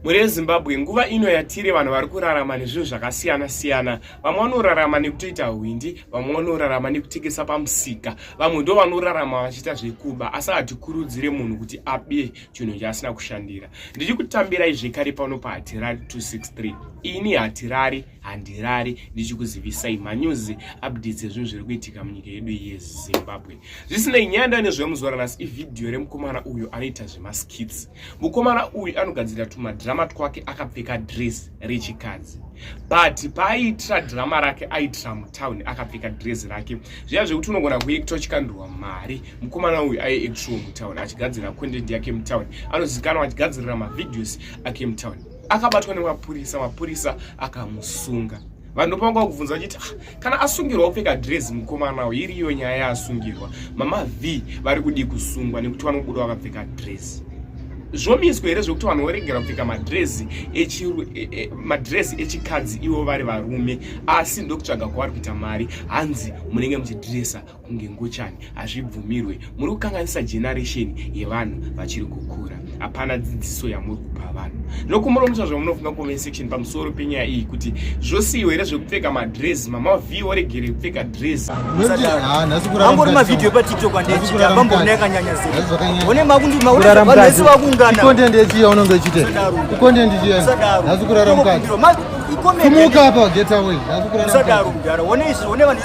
mhuri yezimbabwe nguva ino yatiri vanhu vari kurarama nezvinhu zvakasiyana siyana vamwe vanorarama nekutoita hwindi vamwe vanorarama nekutengesa pamusika vamwe ndo vanorarama vachiita zvekuba asi hatikurudzire munhu kuti abe chinhu chaasina kushandira ndichi kutambirai zvekare pano pahatirari 263 ini hatirari handirari ndichikuzivisai manyuzi updates ezvinhu zviri kuitika munyika yedu yezimbabwe zvisinei nyaya ndane zvemuzora nhasi ivhidhiyo remukomana uyo anoita zvemaskits Mukomana uyu anogadzirira tumadhirama twake akapfeka dress rechikadzi but paaiitira dhirama rake aitira mutown akapfeka dress rake zviya zvekuti unogona kuekta uchikandurwa mari mukomana uyu aiektiwo mutown achigadzirira content yake mutown anozikanwa achigadzirira mavideos ake mutown akabatwa nemapurisa mapurisa akamusunga vanhu ndopanga kuvhunza vachiti ah, kana asungirwa kupfeka dress mukomana uyu iriyo nyaya yaasungirwa mama v vari kudii kusungwa nekuti vanobuda vakapfeka dress zvomiswa here zvekuti vanhu voregera kupfeka madresi e, e, madresi echikadzi ivo vari varume asi ndokutsvaga kwavari kuita mari hanzi munenge muchidresa kunge ngochani hazvibvumirwe muri kukanganisa generation yevanhu vachiri kukura hapana dzidziso yamuri kupa vanhu nokumuromusa zvamunofunga comment section pamusoro penyaya iyi kuti zvosiyiwa here zvekupfeka madress mama v oregere kupfeka dress angori mavhidhiyo patiktok andechiita vambona yakanyanya zeone makundimaunesi vakungana content yechiya unonge uchite content chiya nhasi kurara mukati kumuka apa get away usadaro mudhara one izvi one vanhu